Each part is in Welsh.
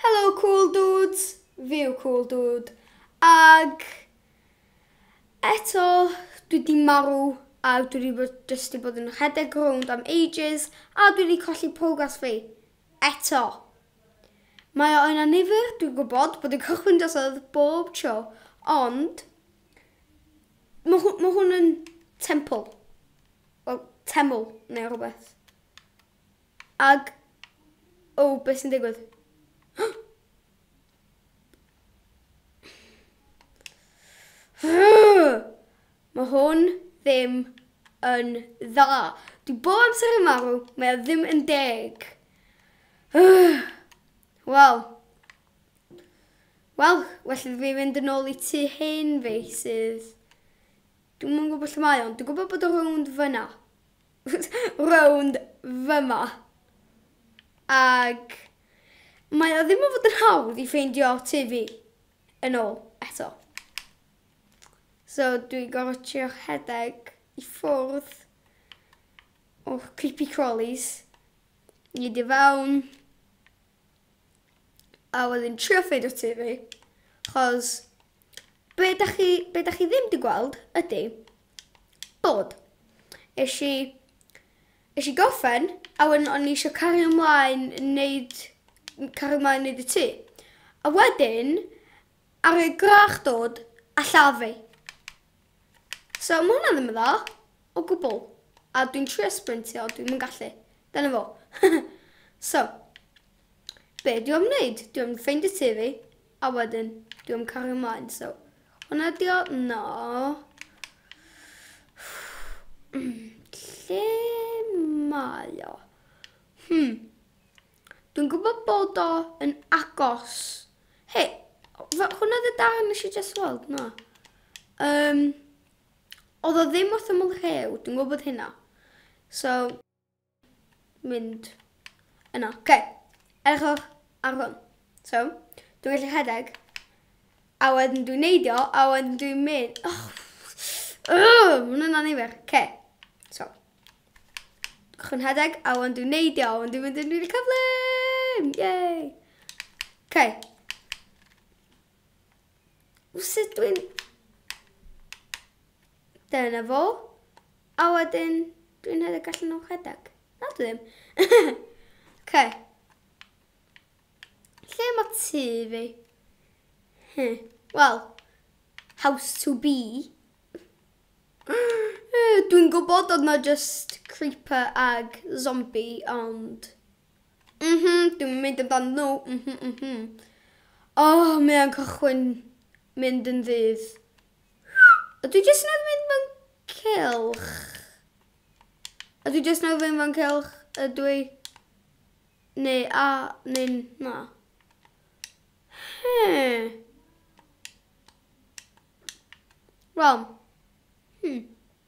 Helo cŵl dŵds, fi yw cŵl dŵd ag eto dwi wedi marw a dwi wedi bod jyst wedi bod yn rhedeg rownd am ages a dwi wedi colli progress fi. Eto. Mae o yn anifyr, dwi'n gwybod bod yn cychwyn drosodd bob tro, ond mae hw- ma hwn yn temple. Wel, teml neu rhywbeth. Ag o beth sy'n digwydd? Mae hwn ddim yn dda. Dwi bob amser yn marw, mae o ddim yn deg. Wel. Wel, well iddo fi fynd yn ôl i tu hen fi sydd... Dwi'n mwyn gwybod lle mae o'n. Dwi'n gwybod bod o rownd fyna. rownd fyma ag mae o ddim yn fod yn hawdd i ffeindio tŷ fi yn ôl eto. So dwi'n gorfod trio rhedeg i ffwrdd o'r creepy crawlies i dy fewn a wedyn trio ffeindio tŷ fi chos be da chi, be da chi ddim di gweld ydy bod eisiau i, eisiau i goffen a wedyn o'n i eisiau cario ymlaen wneud, cario ymlaen wneud y tu. A wedyn, ar y grach dod a llafu. So mae hwnna ddim yn dda o gwbl. A dwi'n trio sprintio, dwi'n mynd gallu. Dyna fo. so, be dwi'n am wneud? Dwi'n am ffeindio tu fi. A wedyn dwi am cario mlaen so hwnna ydi o no lle mae o hmm dwi'n gwybod bod o yn agos he hwnna ydi darn nes i just weld na um, oedd o ddim wrth ymyl rhew dwi'n gwybod hynna so mynd yna. Oce. Okay. Edrychwch ar hwn. So, dwi'n gallu rhedeg. A wedyn dwi'n neidio, a wedyn dwi'n mynd. Oh. Oh, mae'n yna nifer. Oce. Okay. So. Dwi'n rhedeg, a wedyn dwi'n neidio, a wedyn dwi'n mynd yn rili cyflym. Yay. Oce. Okay. Os ydw i'n... Dyna fo. A wedyn, dwi'n rhedeg allan o'n rhedeg. Na, dwi ddim. okay. Lle mae tu fi? Hmm. Wel, house to be. Eh, dwi'n gwybod oedd na just creeper ag zombie, ond Mhm, dwi'n mynd amdanyn nhw, mhm, mhm. Oh, mae o'n cychwyn mynd yn ddydd. A dwi jyst yn mynd fan cylch. A dwi jyst yn mynd fan cylch, a dwi... Neu a, neu na. Hmm. Wel, hmm.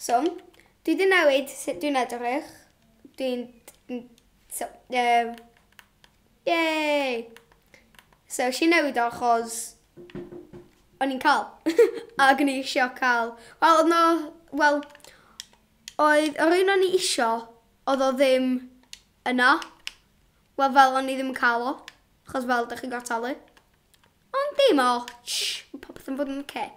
So, dwi wedi newid sut dwi'n edrych. Dwi'n... So, um, yay! So, si newid o achos o'n i'n cael. Ac o'n i eisiau cael. Wel, oedd no... Wel, oedd yr un o'n i eisiau, oedd o ddim yna. Wel, fel o'n i ddim yn cael o. Achos fel, da chi'n gorfod talu. Ond dim o. Shh, popeth yn bod yn oce. Okay.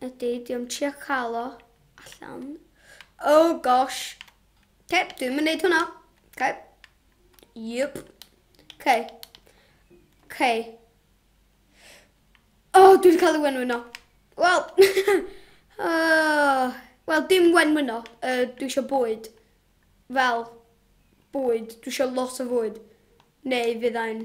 Ydy, diolch trio cael o allan. Oh gosh. Ok, dwi'n mynd neud hwnna. Ok. Yep. Ok. Ok. Oh, dwi'n cael ei wenwyno. Wel. uh, Wel, dim wenwyno. Uh, dwi eisiau bwyd. Fel, bwyd. Dwi eisiau lot o fwyd. Neu fyddai'n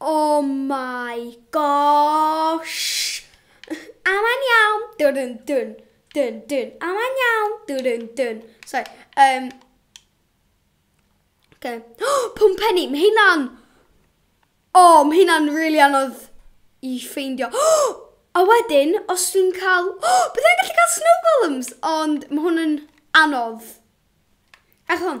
Oh my gosh! A mae'n iawn! Dun dun dun dun. A mae'n iawn! Dun dun dun. Sorry. Um, okay. Pum penny! Mae hynna'n... Oh, mae hynna'n rili really anodd i ffeindio. A wedyn, os dwi'n cael... Oh, bydd e'n gallu cael snow golems! Ond mae hwn yn anodd. Ech hwn.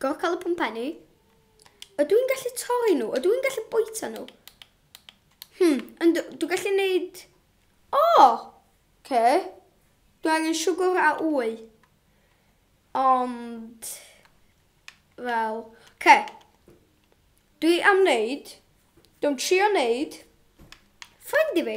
Go cael y pwmpenni. Ydw i'n gallu torri nhw? Ydw i'n gallu bwyta nhw? Hmm, yn dwi'n gallu neud... O! Oh! Ce. Dwi angen siwgr a wy. Ond... Fel... Ce. Dwi am wneud... Dwi'n trio wneud... Ffrind i fi.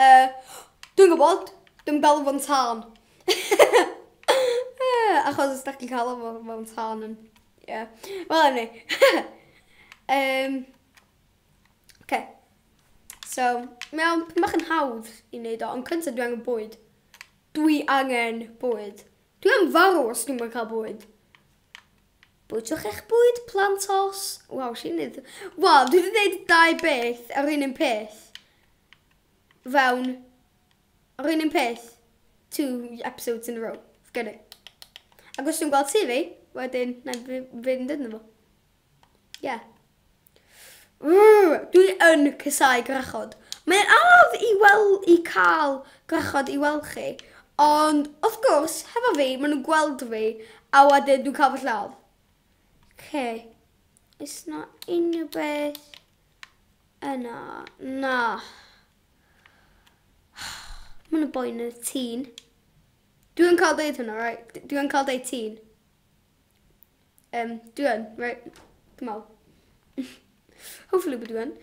Yy, dwi'n gwybod, dwi'm yn galw fo'n tân. Achos os dach chi'n galw fo mewn tân yn... Ie. Wel anyway. Yym, Ocê. So, mae o'n pyn bach yn hawdd i wneud o, ond cyntaf dwi angen bwyd. Dwi angen bwyd. Dwi am farw os dwi'm yn cael bwyd. Bwytwch eich bwyd plant os... Waw, sy'n neud... Waw, dwi wedi gwneud dau beth ar un un peth. Fewn... Ar un un peth. Two episodes in a row. Gyda. Ac os dwi'n gweld CV, wedyn, na i fynd yn fo. Ie. Ww! Dwi yn casau gwrachod. Mae'n anodd i wel- i cael gwrachod i weld chi, ond wrth gwrs, hefo fi, maen nhw'n gweld fi, a wedyn dwi'n cael fy lladd. Oce. Oes 'na unrhyw beth yna? Na. Maen nhw'n boen yn y tîn. Dwi'n cael deud hwnna, right? Dwi'n cael deud tîn. Um, dwi yn. Right. Dwi'n meddwl. Hopefully bod dwi yn.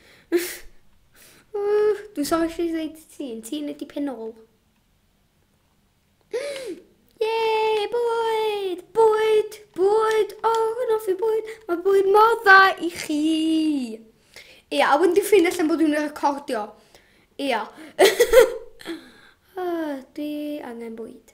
Dwi'n sori chi ddweud ti, yn ti'n ydi penol. Yay, bwyd! Bwyd! Bwyd! O, oh, yn offi bwyd! Mae bwyd mor dda i chi! Ia, a wedyn dwi'n ffyn allan bod dwi'n recordio. Ia. oh, dwi angen bwyd.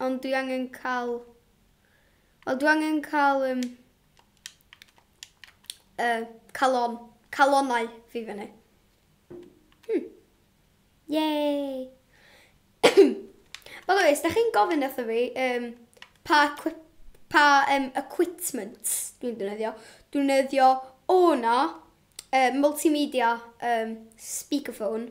Ond dwi angen cael... Wel, dwi angen cael um, uh, calon, calonau fi fyny. Hmm. Yay! By the way, os da chi'n gofyn wrtho fi, um, pa, pa um, equipment dwi'n dynyddio, dwi'n dynyddio o'na uh, multimedia um, speakerphone,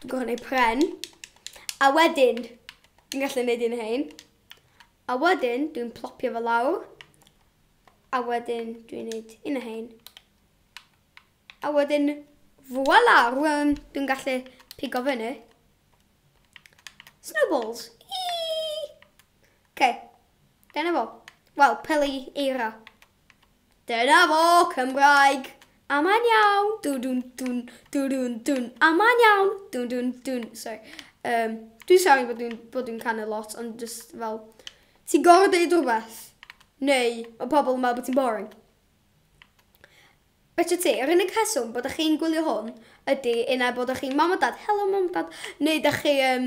Dwi'n gorfod gwneud pren. A wedyn, dwi'n gallu gwneud un o hyn. A wedyn, dwi'n plopio fo lawr. A wedyn, dwi'n gwneud un o hyn. A wedyn, voila, rwan dwi'n gallu pigo fyny. Snowballs. Oce, okay. dyna fo. Wel, peli eira. Dyna fo, Cymraeg! A mae'n iawn! Dwn dwn dwn, dwn dwn dwn, a mae'n iawn! Dwn dwn dwn, sorry. Um, dwi'n sorry bod dwi'n bod dwi'n canu lot, ond just fel... Ti'n gorau deud rhywbeth? Neu, mae pobl yn meddwl bod ti'n boring? Beth ti, yr unig heswm bod ych chi'n gwylio hwn ydy un ai bod ych chi'n mam o dad, helo mam o dad, neu da chi, um,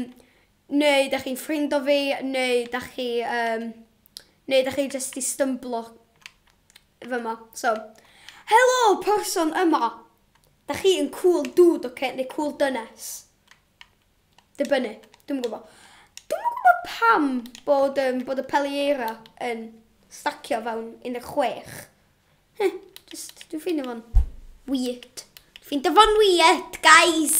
neu da chi'n ffrind o fi, neu da chi, um, Neu dach chi jyst di stymblo fyma, so. Helo, person yma! Dach chi yn cool dude, oce, neu cool dynes? Dibynnu, dwi'n gwybod. Dwi'n gwybod pam bod, um, bod y Pelieira yn stacio fewn 16. Heh, just, dwi'n ffeindio fo'n weird. Dwi'n ffeindio fo'n weird, guys!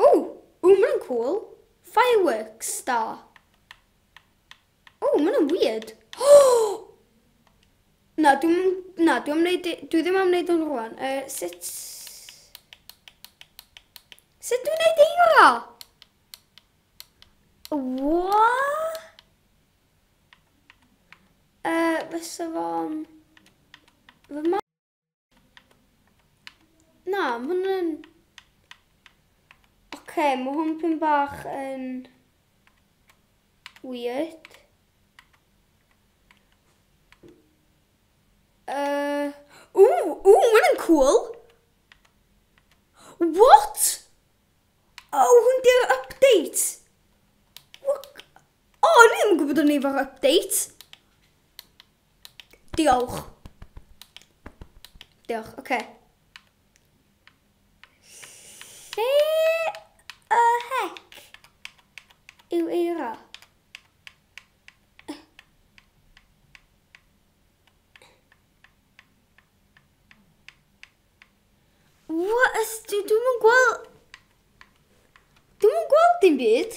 Ooh, ooh, maen nhw'n cool. Fireworks star. Ooh, maen nhw'n weird. Oh! Na, dwi'n... Na, dwi'n wneud... Dwi ddim am wneud nhw'n rwan. Uh, sut... Sut dwi'n wneud eira? What? Uh, fysa fo'n... Fy Na, mae hwn yn... Oce, okay, mae hwn pyn bach yn... Weird. Uh... Ww, ww, mae hwn cool. What? Oh, hwn di'r update. What? Oh, ni ddim yn gwybod o'n ei fo'r update. Diolch. Diolch, oce. Okay. Lle y hec yw eira? What is... Dwi'm yn gweld... Dwi'm yn gweld dim byd.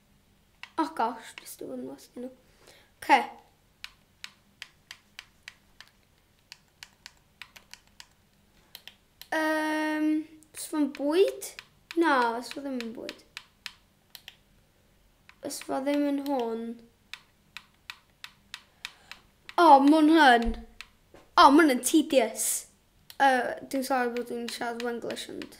Oh gosh, just do one more spin. Okay. Um, os fo'n bwyd? Na, os fo ddim yn bwyd. Os fo ddim yn hwn. O, oh, mwyn hyn. O, oh, mwyn yn tedious. Uh, dwi'n sorry bod dwi'n siarad Wenglish ond...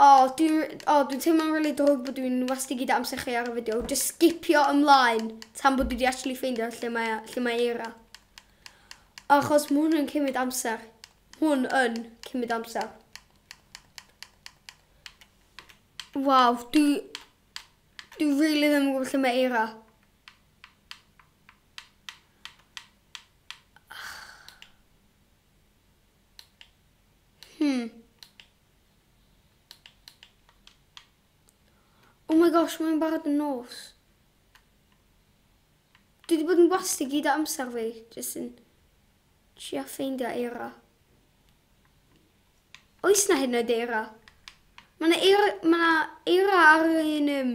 O, dwi'n o, dwi'n teimlo'n rili really drwg bod dwi'n wasti gyda amser chi ar y fideo. Just skipio ymlaen tan bod dwi wedi actually ffeindio lle mae, lle mae Eira. Achos mae hwn yn cymryd amser. Hwn yn cymryd amser. Waw, dwi... Dwi rili really ddim yn gwybod lle mae Eira. Hmm. Oh my gosh, mae'n barod yn nos. Dwi wedi bod yn wasti gyd o amser fi, jyst yn trio ffeindio eira. Oes na hyn yn oed eira? Mae yna eira, ma na eira ar un... Um,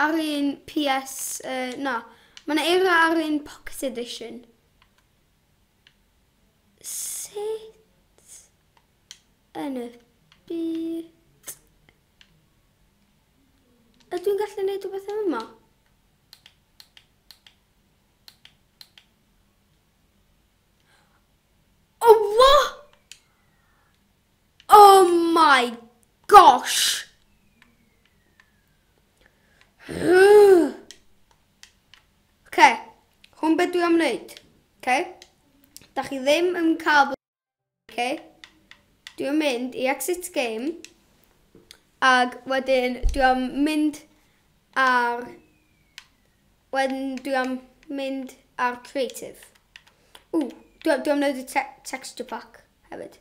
ar un PS... Uh, na. Mae yna eira ar un Pocket Edition. Sut yn y byd... Ydw i'n gallu gwneud rhywbeth am yma? Oh, what? Oh my gosh! Oce, hwn beth dwi am wneud. Oce, da chi ddim yn cael bod yn Oce, dwi am mynd i exit game. Ac wedyn dwi am mynd ar... Wedyn dwi am mynd ar creative. Ww, dwi, dwi am wneud y te texture pack hefyd.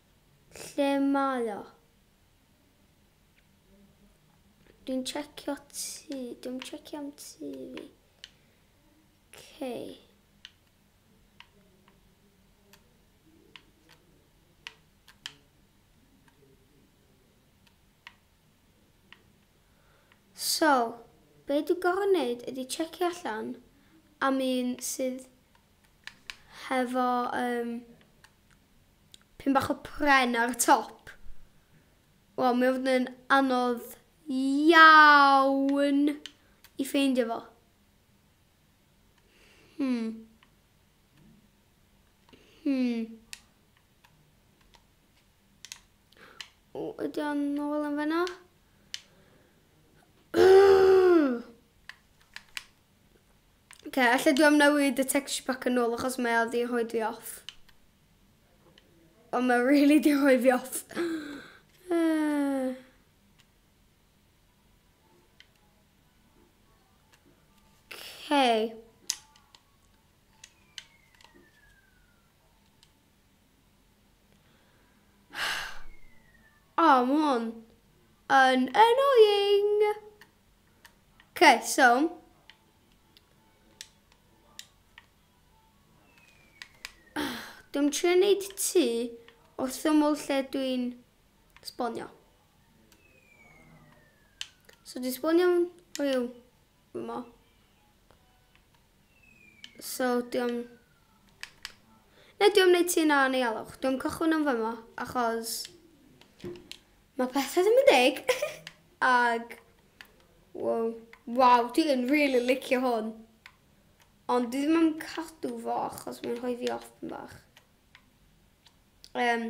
Lle mae o? Dwi'n checio ti. Dwi'n checio am ti fi. Okay. So, be dwi'n gorau wneud ydy checio allan am un sydd hefo um, pyn bach o pren ar y top. Wel, mae fod yn anodd iawn i ffeindio fo. Hmm. Hmm. O, ydy o'n nôl yn fyna? Ok, allai dwi am newid y texture pack yn ôl achos mae o di rhoi fi off. Ond mae really di rhoi fi off. Ok. O, oh, mae hwn yn annoying. Okay, so... Dwi'n trio wneud tu wrth ymwyl lle dwi'n sbonio. So dwi'n sbonio rhyw yma. So, diom... Ne, diom neud ti na neu alwch. Diom cychwyn yn fyma, achos... Mae pethau ddim yn deg. Ag... Wow. Wow, dwi'n really licio hwn. Ond dwi ddim yn cadw fo, achos mae'n rhoi fi off yn bach. Um,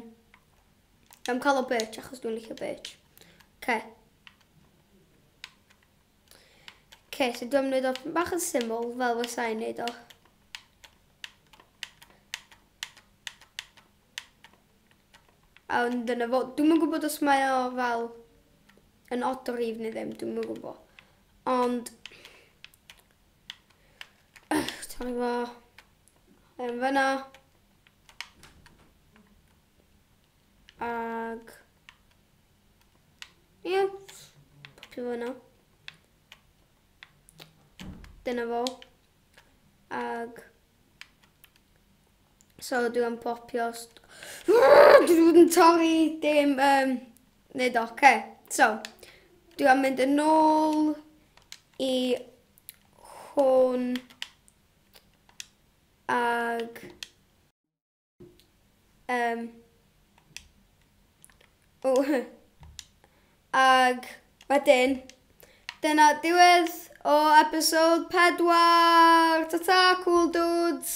am cael o birch, achos dwi'n licio birch. Okay. Ok, so dwi'n mynd o bach yn syml fel fy sain neud o. A dyna fo, dwi'n mynd gwybod os mae o fel yn odd o rif neu ddim, dwi'n mynd gwybod. Ond, ti'n fo, yn fyna, Ag... Ie. Yeah. Popio fo yna. Dyna fo. Ag... So dwi am popio... Dwi wedi yn torri dim... Um, Nid oce. Okay. So, dwi am mynd yn ôl i hwn ag Um, o, ag wedyn, dyna diwedd o episode 4. Ta-ta, cool dudes!